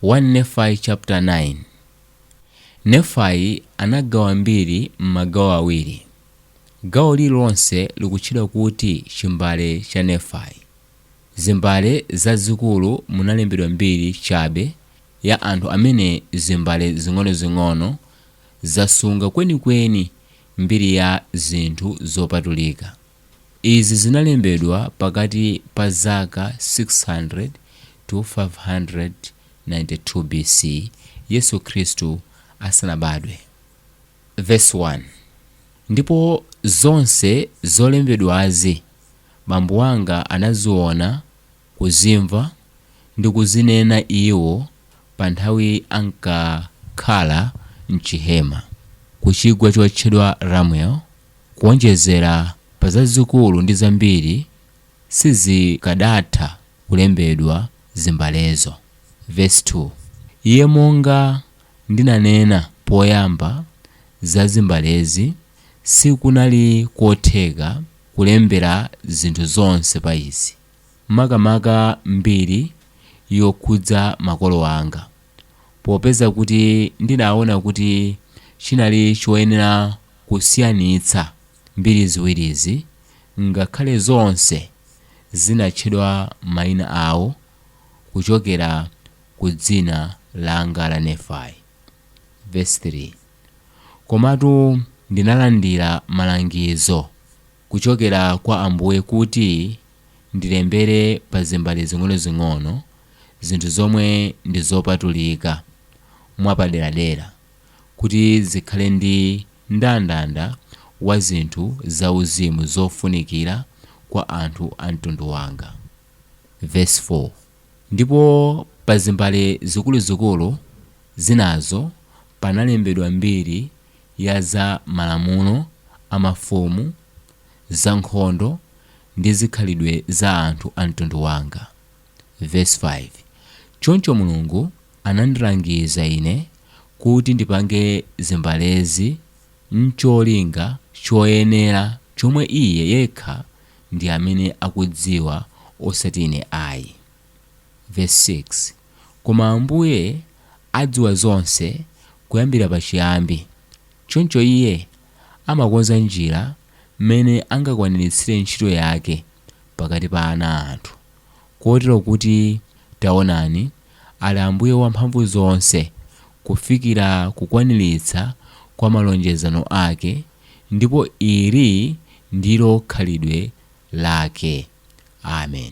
1 Nefai chapter 9 Nefai anagawa mbiri m'magawo awiri. Gawo lililonse likutchedwa kuti Chimbale cha Nefai. Zimbale zazikulu munalembedwa mbiri chabe ya anthu amene zimbale zing'onozing'ono zasunga kwenikweni mbiri ya zinthu zopatulika. Izi zinalembedwa pakati pa zaka 600-592 B.C. Yesu Khristu asanabadwe. Vesi 1, Ndipo zonse zolembedwazi bambo wanga anaziona. kuzimva ndi kuzinena iwo pa nthawi ankakhala m'chihema ku chigwa chotchedwa Ramuel, kuwonjezera pa zazikulu ndi zambiri sizikadatha kulembedwa zimbalezo. Vesi 2, Iye monga ndinanena poyamba za zimbalezi sikunali kotheka kulembera zinthu zonse pa izi. makamaka mbiri yokhudza makolo anga. Popeza kuti ndinaona kuti chinali choyenera kusiyanitsa mbiri ziwirizi, ngakhale zonse zinatchedwa maina awo kuchokera ku dzina langa la Nefai. Vesi 3, Komatu ndinalandira malangizo. kuchokera kwa Ambuye kuti ndilembere pa zimbale zing'onozing'ono zinthu zomwe ndi zopatulika mwapaderadera, kuti zikhale ndi mndandanda wa zinthu zauzimu zofunikira kwa anthu a mtundu wanga. Vesi 4, Ndipo pa zimbale zikuluzikulu zinazo panalembedwa mbiri ya za malamulo a mafumu, za nkhondo, ndi zikhalidwe za anthu a mtundu wanga. Vesi 5, Choncho Mulungu anandilangiza ine kuti ndipange zimbalezi n'cholinga choyenera chomwe iye yekha ndi amene akudziwa osati ine ayi. Vesi 6, Koma Ambuye adziwa zonse kuyambira pachiyambi, choncho iye amakonza njira mmene angakwaniritsire ntchito yake pakati pa ana a anthu, kotero kuti, taonani, ali Ambuye Wamphamvu zonse kufikira kukwaniritsa kwa malonjezano ake, Ndipo ili ndilo khalidwe Lake. Amen.